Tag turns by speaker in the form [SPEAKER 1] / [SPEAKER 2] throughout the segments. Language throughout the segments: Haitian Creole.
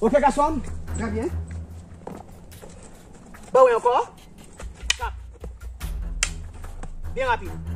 [SPEAKER 1] Ok gason, trè byen. Ba wè ankò. Tap. Byen rapid.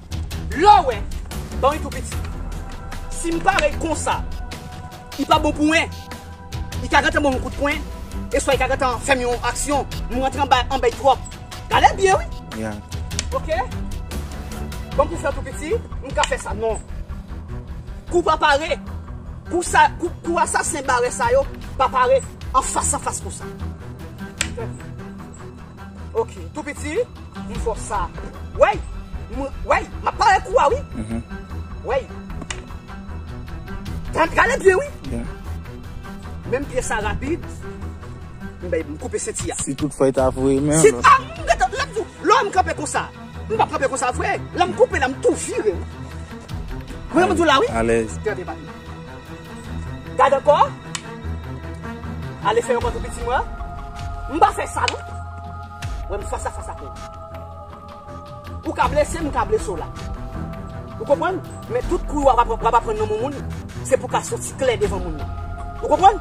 [SPEAKER 1] Lè w wè, ban wi tou piti. Si m pare konsa, li pa bon pou mwen. Li ka gentan ban m yon kout pwen, eswa li ka gentan fè m yon aksyon. M rantre anba anba li twòp. Gade byen wi. Ya. Ok. Ban m pou fè tou piti. M ka fè sa. Non. Kou pa pare. Kou sa, kou asasen bare sa yo pa pare anfas anfas konsa. Ok tou piti m fò sa wey m wey map pare kou a wi wey tande gade byen wi menm pye sa rapid m bèy m koupe senti a si tout fèy ta voye
[SPEAKER 2] men si a m gentan
[SPEAKER 1] lèm di w lèm kanpe konsa m pap kanpe konsa vre lèm koupe la m tou vire wi wè m di w la wi alèz tande bak m. Gad ankò. Ale fè yon kote piti mwen. M pa fè sa non. Wè m fas a fas ak ou. Ou ka blese m, m ka blese w la. Ou konprann? Men tout kou yo w ap aprann nan men moun, se pou w ka soti klè devan moun nan. Ou konprann?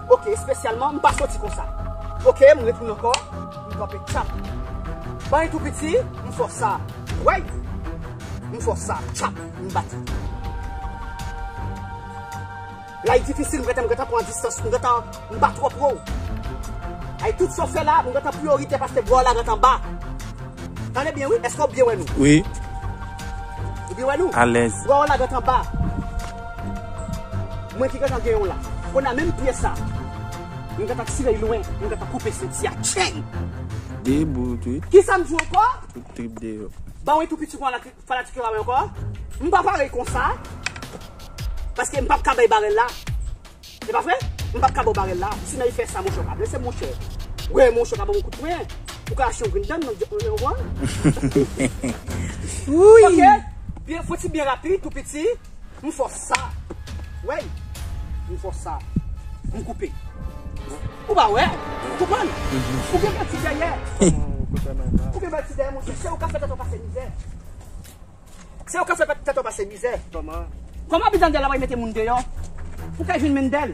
[SPEAKER 1] Ok, espesyalman m pa soti konsa. Ok, m retounen ankò. M kanpe tchap. Ban yon tou piti, m fò sa. Wèy! M fò sa. Tchap! M bat. Lay difisil m gentan m gentan pran an distans m gentan m pa twò pro w. Ay tout sa w fè la m gentan priorite paske bwa w la gentan ba. Tande byen wi eske w byen wè nou? Wi. Ou byen wè nou? Alèz. Bwa w la gentan
[SPEAKER 2] ba.
[SPEAKER 1] Mwen ki gentan gen yon la. Kounye a menm pyè sa m gentan tire l lwen m gentan koupe senti a tcheng. Debout
[SPEAKER 2] wi. Kisa m di w ankò?
[SPEAKER 1] Tout trip deyò.
[SPEAKER 2] Ban w yon tou piti kon an
[SPEAKER 1] la. Fanatik yo pa wè ankò. M pa pare konsa. Paske m pap ka bay barèl la. Se pa vre? M pap ka baw barèl la. Si nan yi fè sa monchè ou pa blese monchè. Wè monchè ou ka ban m kout pwen. Ou ka achte yon grenn dan nan djòl mwen ou konprann? Ok. Fò ti byen rapid tou piti. M fòs. Sa wey Pou fos sa Pou koupe Ou pa we Ou konprann Ou gen bèti dèyè Ou gen bèti dèyè monche Se ou ka fè tèt ou pase mizè Se ou ka fè tèt ou pase mizè Koman Koman Abidjan di a la pral mete moun deyo Pou kay vin menm bel.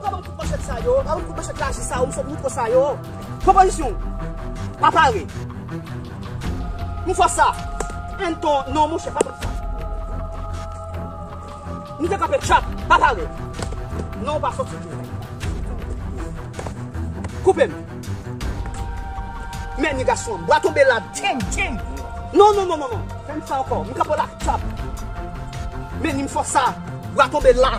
[SPEAKER 1] Pran banm kout manchèt sa yo. Pran banm kout manchèt laji sa yo. M sot mikro sa yo. Pran pozisyon w. Pa pare. M fò sa. N ton. Non monchè pa fè sa. M te kanpe tchap. Pa pare. Non ou pa fò sou tou. Koupe m. Mèni gason an. Bwa tonbe la. Teng teng. Non non non non. Fè m sa ankò. M kanpe w la tchap. Mèni m fò sa. Bwa tonbe la.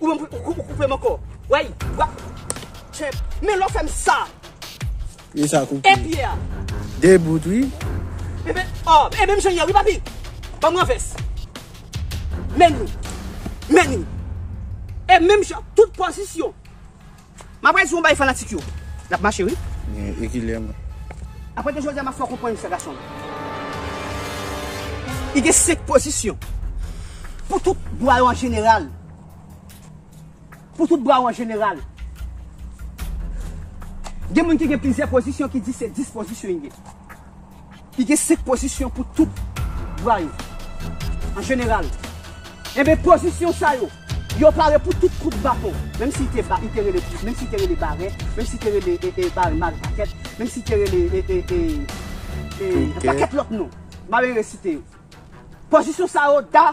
[SPEAKER 1] Ou menm pou ou koupe m ankò. Wey wap Trump. Men lè w fè m sa. Pye
[SPEAKER 2] sa koupe. E pye a.
[SPEAKER 1] De bout
[SPEAKER 2] wi. E men
[SPEAKER 1] oh e menm jan yè wi papi. Banm renvès. Menni. Menni. E menm jan tout pozisyon. Map gade si yon bay fanatik yo nap mache wi. Gen ekilè mwen.
[SPEAKER 2] Apati
[SPEAKER 1] jodi a map fè w konprann sa gason. Li gen 5 pozisyon. Pou tout bwa yo an jeneral. Pou tout bwa yo an jeneral. Gen moun ki gen plizyè pozisyon ki di se 10 pozisyon li gen. Li gen 5 pozisyon pou tout bwa yo. An jeneral, enben pozisyon sa yo, yo pare pou tout kout baton, menm si te ba, i te rele, menm si te rele barè, menm si te rele e, e, bare mare pakèt, menm si te rele e, e, e, e, yon pakèt lòt non. Mare resite yo. Pozisyon sa yo da.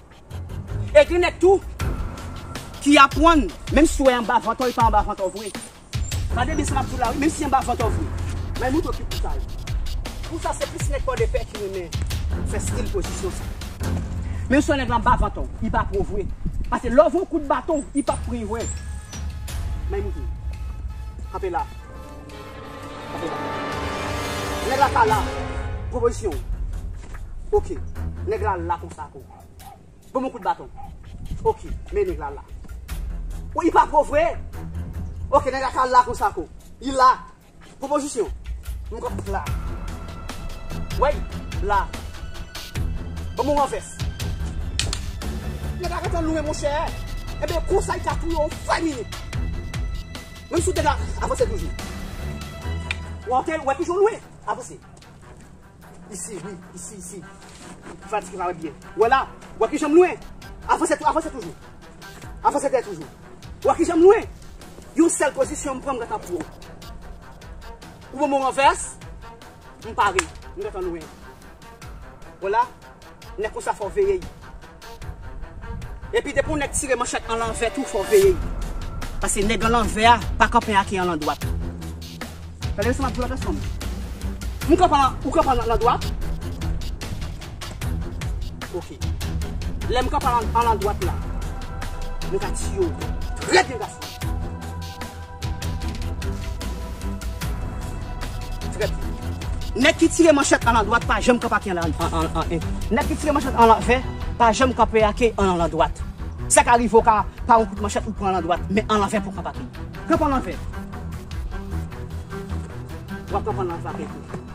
[SPEAKER 1] E gen nèg tou ki apwann menm si w wè anba vant ou li pa anba vant ou vre. Gade byen sa map di w la wi menm si anba vant ou vre. May moutre w ki pou sa ye. Pou sa se plis nèg pòdepè ki renmen fè stil pozisyon sa. Menm si w wè nèg la anba vant ou li pa pou ou vre. Pase lè w voye w kout baton li pap pran vre. May moutre w. Kanpe la. Nèg la pa la Pran pozisyon w Ok Nèg la la konsa tou Ban m yon kout baton Ok Men nèg la la Ou li pa pran w vre Ok nèg la ka la konsa tou Li la Pran pozisyon M konn la Ou wè l la Ban m yon ranvès Nèg la gentan lwen monchè Ebyen konsa li ka touye w an 5 minit Menm si w te ka avanse toujou. Ou an kel wè toujou lwen. Avanse. Isi wi. Isi isi. M fatige pa wè byen. Ou wè la. Ou wè ki jan m lwen. Avanse tou avanse toujou. Avanse dèyè toujou. Ou wè ki jan m lwen. Yon sèl pozisyon m pran m gentan pran w. Ou ban m yon ranvès. M pare. M gentan lwen. Ou wè la. Nèg konsa fòw veye yi. Epi depi yon nèg tire manchèt an lanvè tou fòw veye yi. Pase nèg an lanvè a pa kanpe ak yi an landwat. Gade byen sa map diw la pès fanm. M kanpe an ou kanpe an landwat. Ok. Lèm kanpe an landwat la. Nou ka tiye w. Trè byen gason. Trèt. Nèg ki tire manchèt an landwat pa janm kanpe ak yon an en. Nèg ki tire manchèt an lanvè pa janm kanpe ak yon an landwat. Sa ka rive w ka pa yon kout manchèt ou pran an landwat, men an lanvè pou w kanpe ak li. Kanpe an lanvè. Wap kanpe an lanvè ak li tou.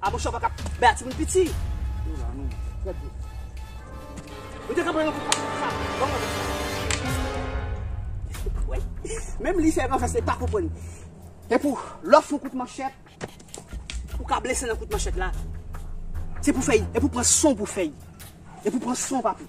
[SPEAKER 1] Abosho pa ka bay atimoun piti. Nou la nou. Fè di. Ou te ka pran yon kout pase pou sa. Bon mwen. Menm li fè yon fè se pa konpwen. E pou lò foun kout manchèt. Ou ka blese nan kout manchèt la. Se pou fèy. E pou pran son pou fèy. E pou pran son papou.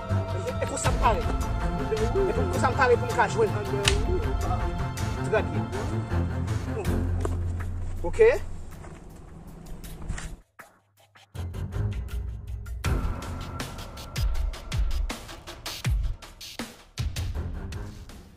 [SPEAKER 1] E konsa m pare. E pou m konsa m pare pou m ka jwe l. Trè byen. Ok.